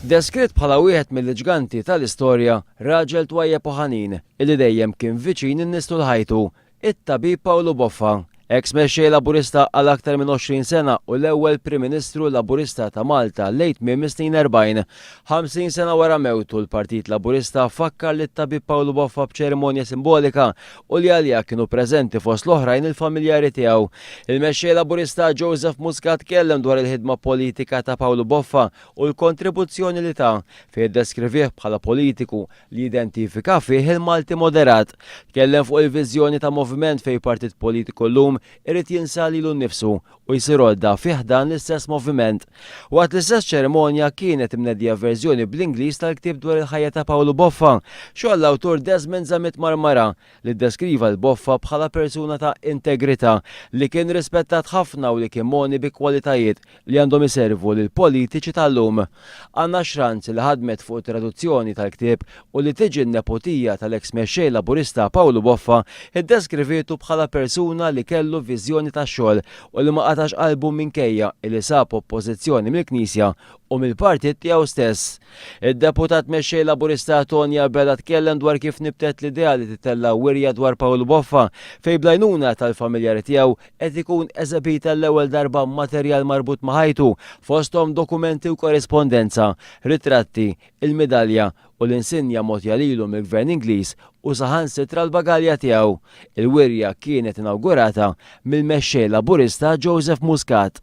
Deskritt bħala wieħed mill-iġganti tal-istorja, raġel twajjeb u ħanin, illi dejjem kien viċin in-nies tul ħajtu, it-Tabib Pawlu Boffa, eks Mexxej Laburista għal aktar minn 20 sena u l-ewwel Prim Ministru Laburista ta' Malta lejn tmiem is-snin erbgħin. Ħamsin sena wara mewtu, l-Partit Laburista fakkar lit-Tabib Pawlu Boffa b'ċerimonja simbolika u li għaliha kienu preżenti fost l-oħrajn il-familjari tiegħu. Il-Mexxej Laburista Joseph Muscat tkellem dwar il-ħidma politika ta' Pawlu Boffa u l-kontribuzzjoni li ta, fejn iddeskrivih bħala politiku li jidentifika fih il-Malti moderat. Tkellem fuq il-viżjoni ta' moviment fejn partit politiku llum irid jinsa lilu nnifsu u jsir għodda fi ħdan l-istess moviment. Waqt l-istess ċerimonja kienet imneddija verżjoni bl-Ingliż tal-ktieb dwar il-ħajja ta' Pawlu Boffa, xogħol l-awtur Desmond Zammit Marmara, li ddeskriva 'l Boffa bħala persuna ta' integrità, li kien rispettat ħafna u li kien mogħni bi kwalitajiet li għandhom iservu lill-politiċi tal-lum. Anna Schranz li ħadmet fuq it-traduzzjoni tal-ktieb u li tiġi n-nepotija tal-eks Mexxej Laburista Pawlu Boffa, iddeskrivietu bħala persuna li kellu viżjoni tax-xogħol u li ma qatax qalbu minkejja li sab oppożizzjoni mill-Knisja u mill-partit tiegħu stess. Id-Deputat Mexxej Laburista Tony Abela tkellem dwar kif nibtet l-idea li titella' wirja dwar Pawlu Boffa fejn bl-għajnuna tal-familjari tiegħu qed ikun eżebit għall-ewwel darba materjal marbut ma' ħajtu, fosthom dokumenti u korrispondenza, ritratti, il-midalja u l-insinja mogħtja lilu mill-Gvern Ingliż u saħansitra l-bagalja tiegħu. Il-wirja kienet inawgurata mill-Mexxej Laburista Joseph Muscat.